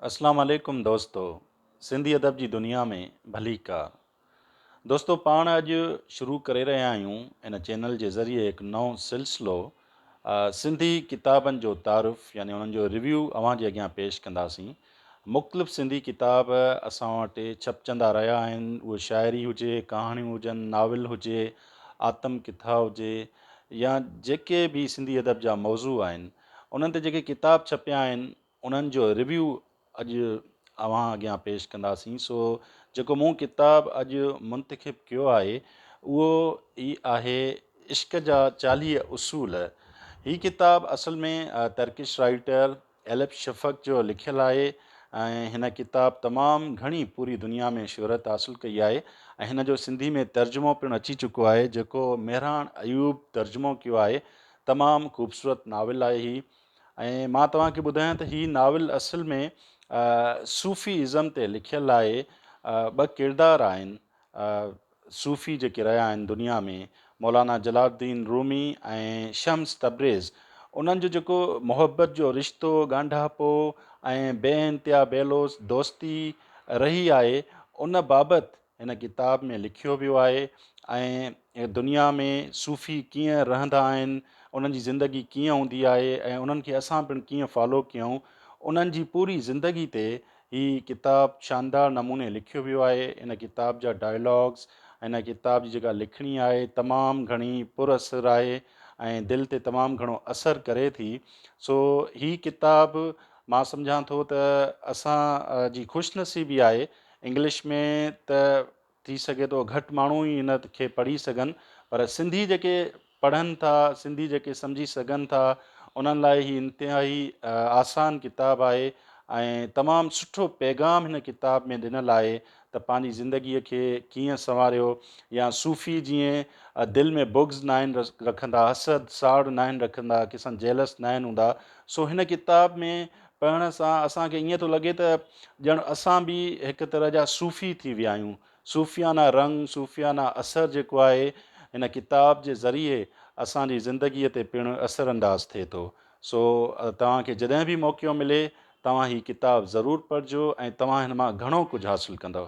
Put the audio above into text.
اسلام عليڪم دوستو سنڌي ادب جي دنيا ۾ ڀليڪار دوستو پاڻ اڄ شروع ڪري رهيا آهيون ان چينل جي ذريعي هڪ نئون سلسلو سنڌي ڪتابن جو تعارف يعني انهن جو ريويو اوهان جي اڳيان پيش ڪنداسين مختلف سنڌي ڪتاب اسان وٽ ڇپجندا رهيا آهن اهي شاعري هجي ڪهاڻيون هجن ناول هجي آتم ڪٿا هجي يا جيڪي به سنڌي ادب جا موضوع آهن انهن تي جيڪي ڪتاب ڇپيا آهن انهن جو ريويو اڄ اوهان اڳيان پيش ڪنداسين سو جيڪو مون ڪتاب اڄ منتخب ڪيو آهي اهو هي آهي عشق جا چاليهه اصول هي ڪتاب اصل ۾ ترڪش رائيٽر ايلپ شفق جو لکيل آهي ۽ هن ڪتاب تمام گهڻي پوري دنيا ۾ شهرت حاصل ڪئي آهي ۽ هن جو سنڌي ۾ ترجمو پڻ اچي چڪو آهي جيڪو مهراڻ ايوب ترجمو ڪيو آهي تمام خوبصورت ناول آهي هي ۽ مان توهان کي ٻڌايان ته هي ناول اصل ۾ صوفي ازم تي لکيل آهي. ٻه ڪردار آهن صوفي جيڪي رهيا آهن دنيا ۾ مولانا جلال الدين رومي ۽ شمس تبريز انهن جو جيڪو محبت جو رشتو ڳانڍاپو ۽ بي انتها بي لوث دوستي رهي آهي ان بابت هن ڪتاب ۾ لکيو ويو آهي ۽ دنيا ۾ صوفي ڪيئن رهندا آهن، انهن جي زندگي ڪيئن هوندي آهي ۽ انهن کي اسان پڻ ڪيئن فالو ڪيون، انهن جي پوري زندگي تي هي ڪتاب شاندار نموني لکيو ويو آهي. هن ڪتاب جا ڊائلاگز ۽ هن ڪتاب جي جيڪا لکڻي آهي تمام گهڻي پر اثر آهي ۽ دل تي تمام گهڻو اثر ڪري ٿي سو هي ڪتاب مان سمجهان ٿو ته اسان جي خوش نصيبي آهي انگلش ۾ ته ٿي سگهي ٿو گهٽ ماڻهو ئي ان کي پڙهي سگهن پر سنڌي جيڪي پڙهن ٿا سنڌي جيڪي سمجهي سگهن ٿا انهن لاء هي انتهائي آسان ڪتاب آهي ۽ تمام سٺو پيغام هن ڪتاب ۾ ڏنل آهي ته پنهنجي زندگي کي ڪيئن سنواريو يا صوفي جيئن دل ۾ بغض ناهن رکندا حسد ساڙ ناهن رکندا ڪسن جيلس ناهن هوندا سو هن ڪتاب ۾ پڙهڻ سان اسان کي ائين ٿو لڳي ته ڄڻ اسان به هڪ طرح جا صوفي ٿي ويا آهيون. صوفيانه رنگ، صوفيانه اثر جيڪو آهي هن ڪتاب جي ذريعي اسان جي زندگيء تي پڻ اثر انداز ٿئي ٿو. سو توهان کي جڏهن به موقعو ملي توهان هي ڪتاب ضرور پڙهجو ۽ توهان هن مان گهڻو ڪجهه حاصل ڪندؤ.